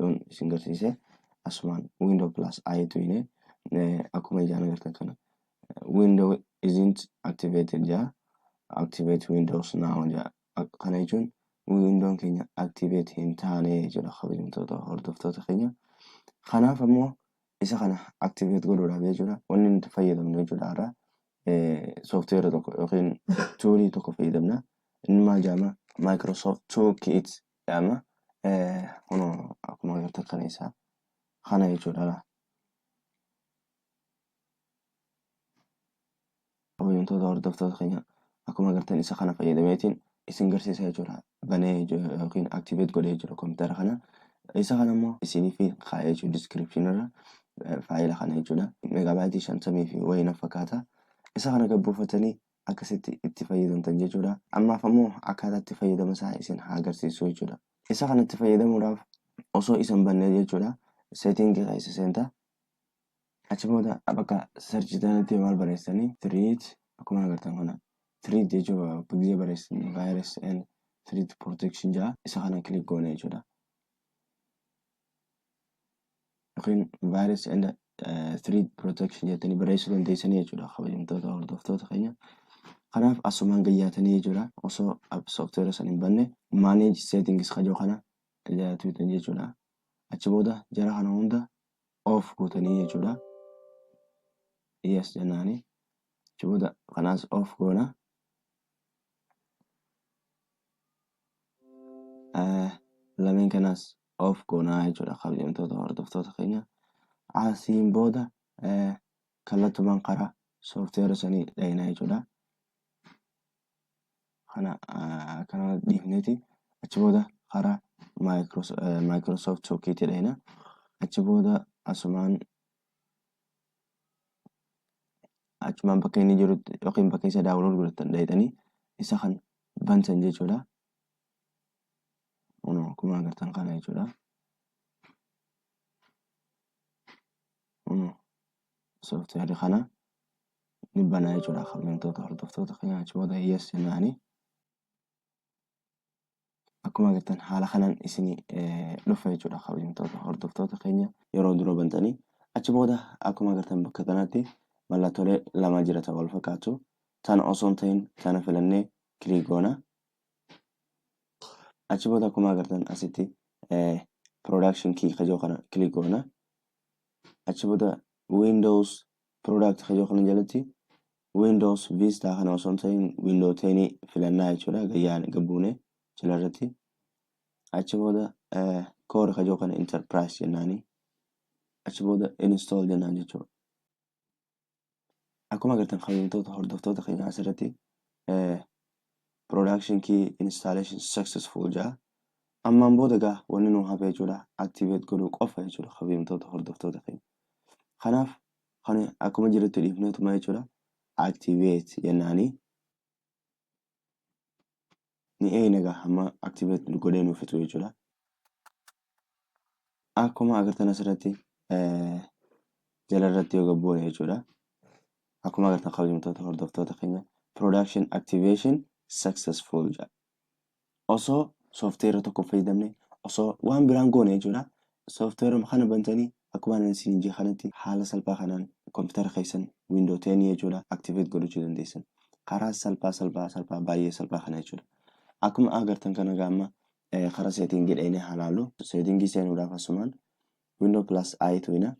yoon isin garsiise asumaan window plus i tu hine akkuma ijaan agartan kana window isn't activated jaa activate windows now jaa kana jechuun windoon keenya activate hin taane jechuudha kabajamtoota hordoftoota keenya kanaaf ammoo isa kana activate godhuudhaaf jechuudha wanni nuti fayyadamnu jechuudha irraa sooftiweera tokko yookiin tuulii tokko fayyadamna inni maal jaama Microsoft Toolkit Amma kunoo akkuma agartan kana isaa kana jechuudha. Kabajamtoota hordoftoota keenya akkuma agartan isa kana fayyadameetiin isin garsiisa jechuudha. Banee yookiin activate godhee jechuudha kompiitara kana. Isa kana immoo isiniif kaa'ee jechuudha description irra faayila kana jechuudha. Megaabaayitii shantamii fi wayii na fakkaata. Isa kana gabbuufatanii akkasitti itti fayyadamtan jechuudha. Ammaaf ammoo akkaataa itti fayyadama isaa isin haa agarsiisu jechuudha. Isa kana itti fayyadamuudhaaf osoo isan bannee jechuudha setting keessa seenta. Achi booda bakka search jedhanitti maal barreessanii treat akkuma agartan kana treat jechuudha gizee barreessin virus and treat protection jedha isa kana click goone jechuudha. yookiin virus and eh, threat protection jettanii barreessuu dandeessanii jechuudha kabajamtoota hordoftoota keenya. Kanaaf asumaan gayyaatanii jechuudha osoo app software san hin banne manage settings kajoo kana jala tuutan jechuudha. Achi booda jara kana hunda off gootanii jechuudha. Yes jennaani. Achi booda kanaas off goona. Eh, Lameen kanaas of goonaa jechuudha kabajamtoota hordoftoota keenya asiin booda kallattumaan karaa sooftiweera sanii dhayina jechuudha kana kana dhiifneeti achi booda karaa maayikiroosoft sookiitii dhayina achi booda asumaan achumaan bakka inni jirutti yookiin bakka isa daawwalood godhatan dhayitanii isa kan bantan jechuudha Kunoo akkuma agartan kana jechuudha. Kunoo sooftiweerri kana ni banaa jechuudha kabajamtoota hordoftoota keenya achi booda yes jennaani. Akkuma agartan haala kanaan isin dhufa jechuudha kabajamtoota hordoftoota keenya yeroo dura bantanii achi booda akkuma agartan bakka kanatti mallattoolee lama jiratan wal fakkaatu tana osoo hin ta'in tana filannee kilik goona achi booda akkuma agartan asitti production key kajoo kana click goona achi booda windows product kajoo kana jalatti windows vista kana osoo hin ta'in window 10 filannaa jechuudha gayyaan gabbuune jala irratti achi booda core kajoo kana enterprise jennaani achi booda install jennaan jechuudha Akkuma agartan kabajamtoota hordoftoota keenya asirratti production key installation successful jaa ammaan booda gaa wanni nu hafe jechuudha activate godhuu qofa jechuudha kabajamtoota hordoftoota keenya. Kanaaf kan akkuma jirutti dhiifneetuma jechuudha activate jennaanii ni eegna egaa hamma activate godhee nuuf fixu jechuudha. Akkuma agartan asirratti jalarratti yoo gabboone jechuudha. Akkuma agartan kabajamtoota hordoftoota keenya production activation successful jedha. Osoo soofteera tokko fayyadamne osoo waan biraan goone jechuudha. Software kana bantanii akkumaan ani isiniin jee kanatti haala salphaa kanaan computer keessan window 10 jechuudha activate godhachuu dandeessan. Karaa salphaa salphaa salphaa baay'ee salphaa kana jechuudha. Akkuma agartan kana egaa amma karaa setting dheenee haa laallu. Setting seenuudhaaf asumaan window plus i tuina.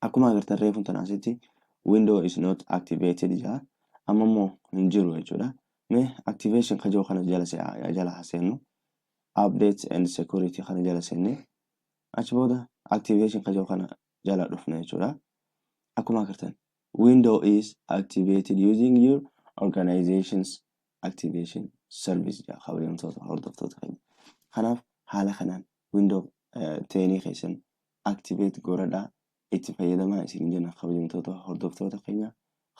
Akkuma agartan reefuun tan asitti window is not activated jaa amma immoo hin jiru jechuudha. Mee activation kajoo kana jala jala haa seennu. updates and security kana jala senne achi booda activation ka jedhu kana jala dhufna jechuudha akkuma agartan window is activated using your organization's activation service jedha kabajamtoota hordoftoota keenya kanaaf haala kanaan window teenii keessan activate goradhaa itti fayyadamaa isin jenna kabajamtoota hordoftoota keenya.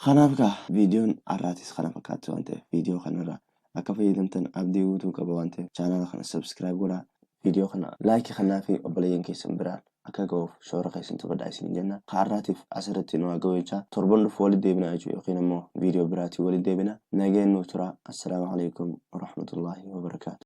Kanaaf kaa viidiyoon har'aatis kana fakkaatti waan ta'eef viidiyoo kanarraa akka fayyadamtan abdii guutuu qaba waan ta'eef chaanaala kana subscribe godhaa. Viidiyoo kana laayikii kannaa fi obboleeyyan keessan biraan akka ga'uuf shoora keessan taphadhaa isin jenna. Ka har'aatiif asirratti nu haa ga'u jechaa torban dhufu walitti deebina jechuu yookiin ammoo viidiyoo biraatiin walitti deebina. Nageen nuuf turaa. Assalaamu alaikum warahmatullaahi wabarakaatu.